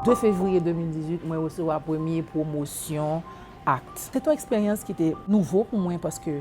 2 fevriye 2018, mwen resevwa premye pwomosyon act. Se t on eksperyans ki te nouvo pou mwen paske.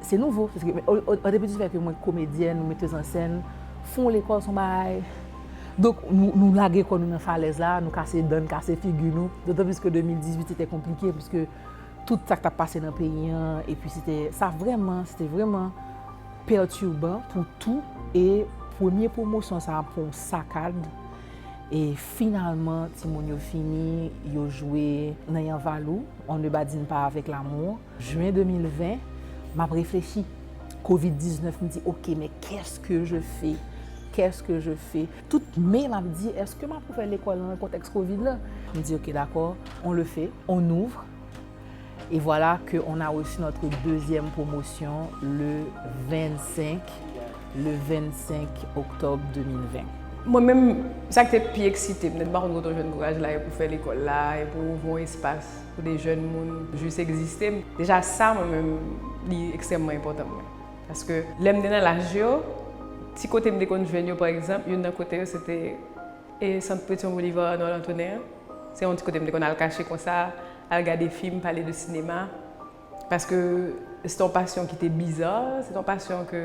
Se nouvo, paske depi di fè ke mwen komedyèn ou metèz an sèn, fon lekòl son bagay, donk nou lage kò nou nan falèz la, nou kase dan, kase figi nou, dotan plis ke 2018 se te konplike, pwiske tout sa k tap pase nan peyi an, epi se te, sa vrèman, se te vrèman pètiban pou tou, e premye pwomosyon sa pou yon sakad, e finalman ti moun yo fini, yo jwe nan yanvalou, on ne badine pas avec l'amour. Juin 2020, m ap reflechi, covid 19, m di ok men qu'est-ce que je fais? Qu'est-ce que je fais? Tout mai m ap di eske m ap ouvè lekòl nan kontèks covid la? M di ok dakò, on le fait, on ouvre et voilà que on a reçu notre deuxième promotion le 25, le 25 octobre 2020. Mwen menm, sa ki te pi eksite m, m te di m pa konn kote w jwenn kouraj la e pou w fè lekòl la, e pou w ouvri yon espas. Pou de jèn moun jis egziste, deja sa mwen menm li ekstrèmman enpòtan pou mwen. Paske lè m te nan laj yo, ti kote m te konn jwenn yo pa egzanp, youn nan kote yo se te e Sant Petion Bolivar Arnold Antonin an. Se yon ti kote m te konn al kache konsa, al gade fim, pale de sinema. Paske se te yon pasyon ki te biza, se te yon pasyon ke.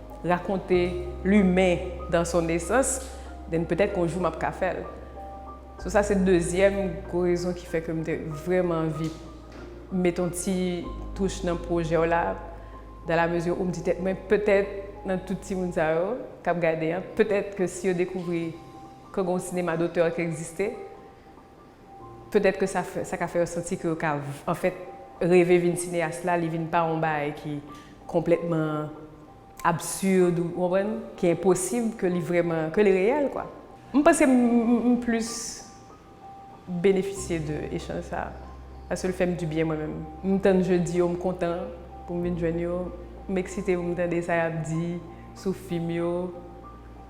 Rakonte limen dans son nesans, then petèt kon jou m ap ka fè l. So sa se dezyèm gwo rezon ki fè ke m te vrèman anvi met yon ti touch nan pwojè w la, dans la mesure où m di tèt mwen petèt nan tout timoun sa yo k ap gade an, petèt ke si yo dekouvri ke gen yon sinema dotè ki egziste, Petèt ke sa sa ka fè yo santi ke yo ka anfèt reve vin sineyas la, li vin pa yon bagay ki konplètman absurd ou konprann, ki enposib ke li vrèman, ke li reyèl kwa. M panse m m plis benefisye de echanj sa a, paske l fè m dibyen mwen menm. M tann jedi yo, m kontan pou m vin jwenn yo, m eksite pou m tande sa y ap di sou fim yo.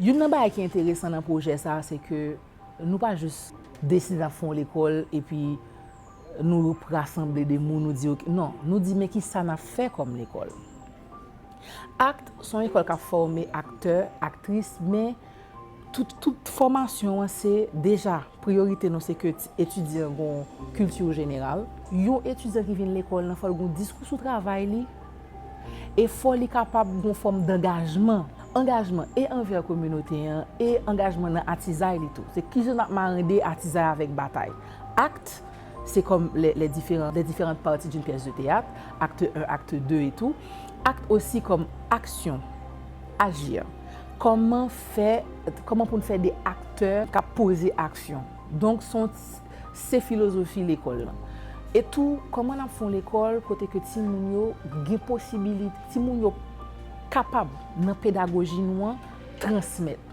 Youn nan bagay ki enteresan nan pwojè sa a se ke nou pa jis deside n ap fè yon lekòl epi nou rasanble de moun nou di yo ke non, nou di men ki sa n ap fè kòm lekòl. Act se yon lekòl k ap fòme aktè, aktris men. Tout fòmasyon an se deja priyorite nou se ke etidyan gon kilti jeneral. Yon etidyan ki vin lekòl nan fò l gon diskou sou travay li e fò li kapab gon fòm dangajman. Angajman e anvè kominote an e angajman nan atizay li tou. Se kijan n ap marande atizay avèk batay. Act. Se kòm les les différents les différentes parties d'une pièce de théâtre, acte 1, acte 2 et tout. Acte aussi kòm aksyon, agir. Kòman fè, kòman pou n fè de aktè k ap poze aksyon. Donk s on ti, se filozofi lekòl lan. E tou, kòman n ap fè yon lekòl kote ke timoun yo gen posibilite, timoun yo kapab nan pedagoji nou an transmèt.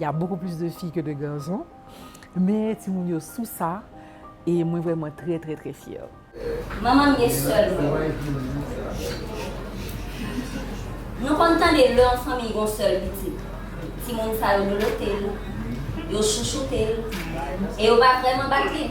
Y a beaucoup plus de filles que de garçons men timoun yo sou sa e mwen vrèman trè trè trè fyè. Manman m gen sè l mwen wi. Nou konn tande lè yon fanmiy gon sèl pitit, timoun sa yo dodote l, yo chouchoute l e yo pa vrèman bat li.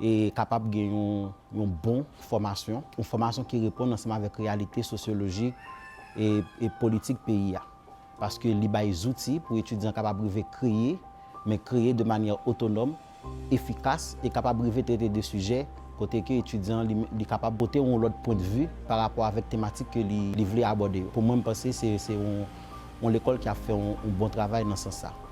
e kapab gen yon bon fòmasyon, yon fòmasyon ki reponn ansanm avèk reyalite sosyolojik e politik peyi a. Paske li bay zouti pou etidyan kapab rive kreye, men kreye de manyè otonòm, efikas, e kapab rive trete de sijè kote ke etidyan an li kapab pote yon lòt pwendvi pa rapò avèk tematik ke li vle abòde yo. Pou mwen, m panse se yon lekòl ki ap fè yon bon travay nan sans sa.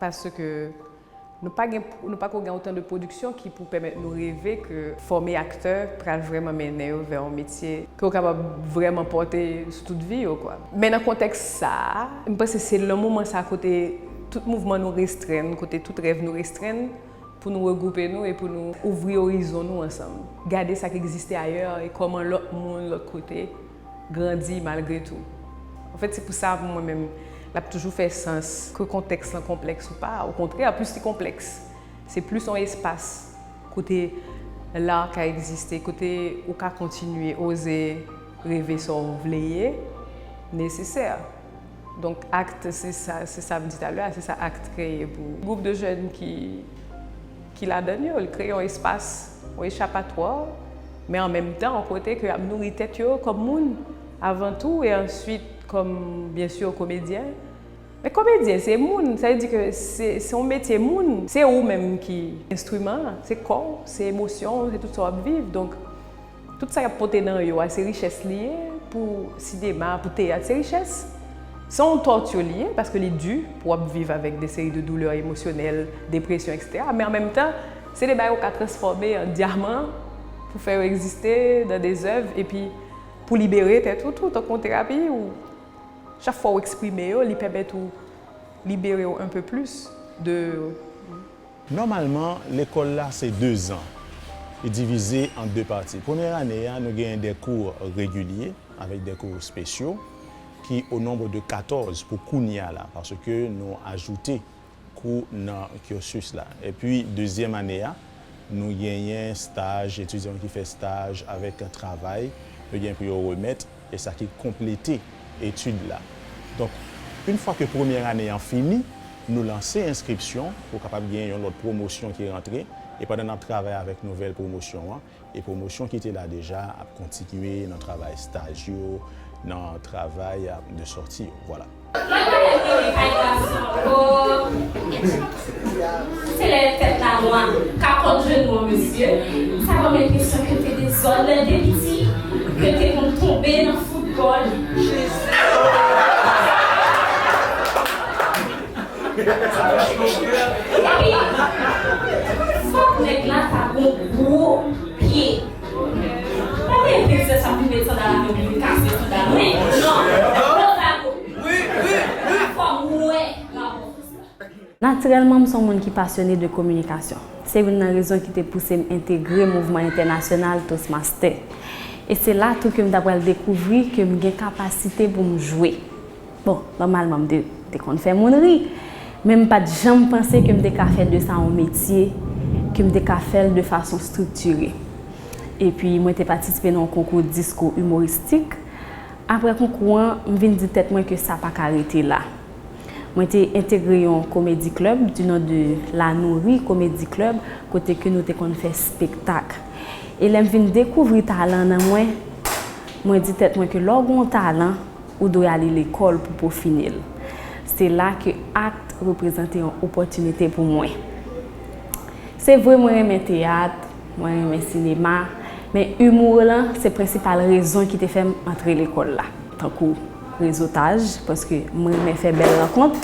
Paske nou pa gen, nou pako gen otan de pwodiksyon ki pou pèmèt nou reve ke fòme aktè pral vrèman mennen yo vè yon metye ke yo kapab vrèman pòte sou tout vi yo kwa. Men nan kontèks sa a, m panse se nan moman sa a kote tout mouvman nou restrenn, kote tout rèv nou restrenn pou nou regwoupe nou e pou nou ouvri orizon nou ansanm, gade sa k egziste ayè e kòman lòt moun, lòt kote. Grandi malgre tou. An fèt se pou sa pou mwen menm l ap toujou fè sans. Ke kontèks lan konplèks ou pa, okontrè plis li konplèks, se plis yon espas kote l ar ka egziste, kote ou ka kontinye oze reve sa w vle ye nesesè. Donk act se sa, se sa m di talè a, se sa act kreye pou gwoup de jèn ki ki ladan l yo. Li kreye yon espas, yon echapatwa, men an menm tan yon kote ke y ap nouri tèt yo kòm moun avan tou e answit kòm byen si komedyen. Men komedyen se moun, sa vle di ke se se yon metye moun. Se ou menm ki enstriman an, se kò w, se emosyon w, se tout sa w ap viv donk. Tout sa y ap pote nan yo a se richès li ye, pou sinema, pou teyat, se richès. Se yon torture li ye, paske li di pou w ap viv avèk de seri de douleur emosyonèl, depresyon eksetera, men an menm tan, se de bagay ou ka transfòme an dyaman pou fè yo egziste nan de zèv epi pou libere tèt ou tou, tankou yon terapi ou chak fwa ou eksprime yo li pèmèt ou libere w un peu plus de. Nòmalman, lekòl la se de zan. Li divize an de pati. Premyè ane a, nou genyen de kou regilye avèk de kou spesyo ki o nonb de katòz pou kounye a la paske nou ajoute kou nan cursus la. Epi dezyèm ane a, nou genyen staj, etidyan ki fè staj avèk travay yo gen pou yo remèt. E sa ki konplete etid la. Donk, yn fwa ke premyè ane an fini, nou lanse enskripsyon pou kapab gen yon lòt pwomosyon ki rantre, e pandan n ap travay avèk nouvèl pwomosyon an, e pwomosyon ki te la deja ap kontinye nan travay staj yo, nan travay de sòti yo. Vwala. Mwen pa menm rete kay gason ankò Se lè fèt la nwa ka kont jenou an mesye Sa banm enpresyon ke te dezòd lèl te piti Ke te konn tonbe nan foutbòl Epi fòk nèg la ta gon gwo pye Natirèlman, m se yon moun ki pasyone de kominikasyon. Se youn nan rezon ki te pouse m entegre mouvman entènasyonal Toastmaster. E se la tou ke m ta pral dekouvri ke m gen kapasite pou m jwe. Bon, nòmalman m te konn fè moun ri, men m pa t janm panse ke m te ka fè de sa yon metye, ke m te ka fè l de fason striktire. Epi mwen te patisipe nan yon konkou diskou imoristik. Aprè konkou an, m vin di tèt mwen ke sa pa ka rete la. Mwen te entegre yon komedi klèb di non de La Nourri Comedy Club kote ke nou te konn fè spektak. E lè m vin dekouvri talan nan mwen, mwen di tèt mwen ke lè w gen yon talan, ou dwe ale lekòl pou pwofine l. Se la ke akt reprezante yon opòtinite pou mwen. Se vre mwen renmen teyat, mwen renmen sinema, men humour lan se prensipal rezon ki te fè m antre lekòl la. Tankou rezotaj, paske m renmen fè bèl rankont.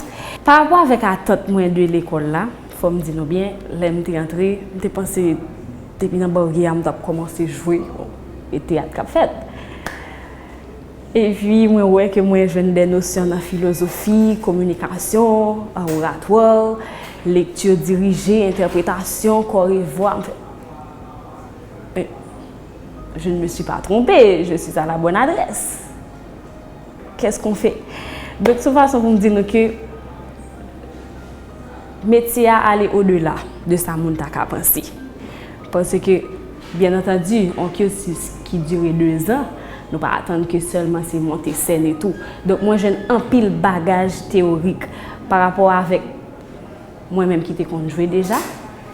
Pa rapò avèk atant mwen de lekòl la, fò m di nou byen, lè m te antre, m te panse depi nan barye a m t ap kòmanse jwe, e teyat k ap fèt. Epi mwen wè ke mwen jwenn dè nosyon nan filozofi, kominikasyon, oratwa, lekti dirije, entèpretasyon, kò e vwa, m fè, Men, je ne me suis pas trompé, je suis à la bonne adresse! Qu'est-ce qu'on fait? Donk, son fason pou m di nou ke metye a ale au-delà de sa moun ta ka panse. Paske. Byen antandi, yon cursus ki dire 2 zan, nou pa atann ke sèlman se monte sèn e tou. Donk mwen jwenn anpil bagaj teyorik pa rapò avèk mwen menm ki te konn jwe deja,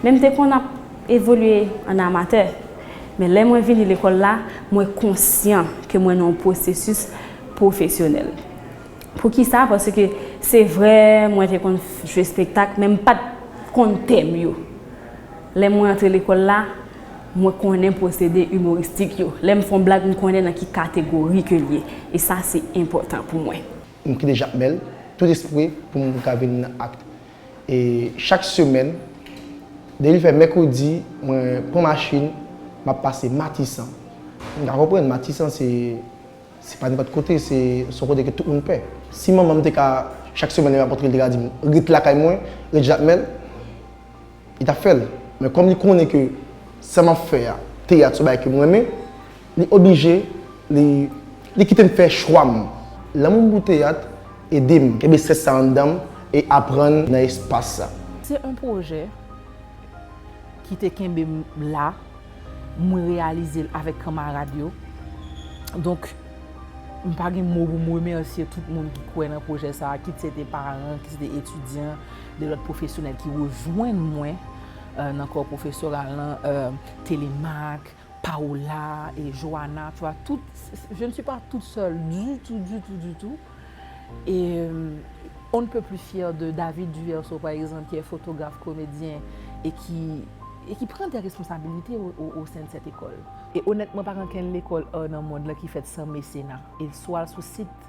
men m te konn ap evolye an amatè. Men lè mwen vini lekòl la, mwen konsyan ke mwen nan yon pwosesis pwofesyonèl. Poukisa? Paske se vre mwen te konn jwe spektak men m pa t konn tèm yo. Lè mwen antre lekòl la, mwen konnen pwosede imoristik yo. Lè m fè yon blag, m konnen nan ki kategori ke l ye. E sa se enpòtan pou mwen. M kite Jakmèl tout espre pou m ka vin nan akt. E chak semèn, depi l fè mèkredi, mwen pran machin, m ap pase Matisan. M ka konprann, Matisan se se pa nenpòt kote, se se yon kote ke tout moun pè. Si manman m te ka, chak semèn lè m ap antre, l te ka di m, Ret lakay mwen, ret Jakmèl. Li tap fèl, men kòm li konnen ke sa map fè a, teyat son bagay kem renmen, li oblije li li kitem fè chwam. Lanmoum pou teyat edem kenbe sens sa anndanm e aprann nan espas sa. Se on pwojè ki te kenbem la, mwen reyalizel avèk kanmarad yo. Donk mpa gen mo poum remèsye tout moun ki kwè nan pwojè sa, kit se te paran, kit se te etidyan, De lòt pwofesyonèl ki rejwenn mwen nan kò pwofesoral lan, Télémaque, Paola et Joana, tu vois, tout, je ne suis pas toute seule du tout, du tout, du tout. Et on ne peut plus fière de David Duverseau, par exemple, qui est photographe, comédien et qui, et qui prend des responsabilités au sein de cette école. Et honnêtement, pa gen okenn lekòl ar nan mond lan ki fèt san mesena. Et swa al sou sit.